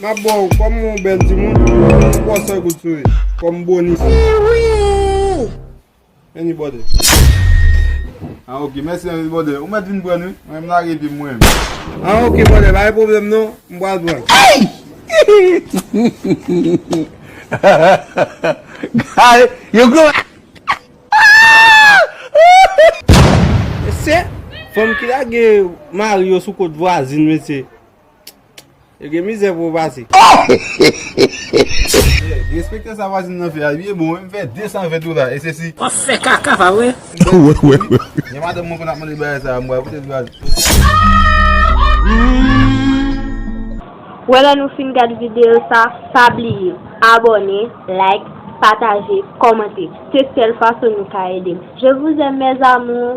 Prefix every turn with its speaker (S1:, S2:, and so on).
S1: Map baw kòm yon bèl timoun, yon pò sèl goud sou li, kòm bonis. Henry Bòdè An ok, mèsi Henry Bòdè, ou mèt vin prann wi, mwen m lage pye m mwen menm. An ok Bòdè, pa gen pwoblèm non, m pral prann. Eyy!
S2: Gade yon gwo bèk!
S1: Mesye, fanm ki lage mari yo sou kot vwazin mesye. Yo gen mizè pou yo pase. Respekte sa vwazin nan fè a ui e bon wi m fè 220 dola e se si. Wap fè kaka
S3: pa vre.
S2: Gen madanm
S1: mwen konn ap mande bagay sa a m pral pote l vwazin. Ou
S4: wè lè nou fin gad video sa pa bliye abone like pataje kòmante se sèl fason nou ka ede m je vous aime mes amours.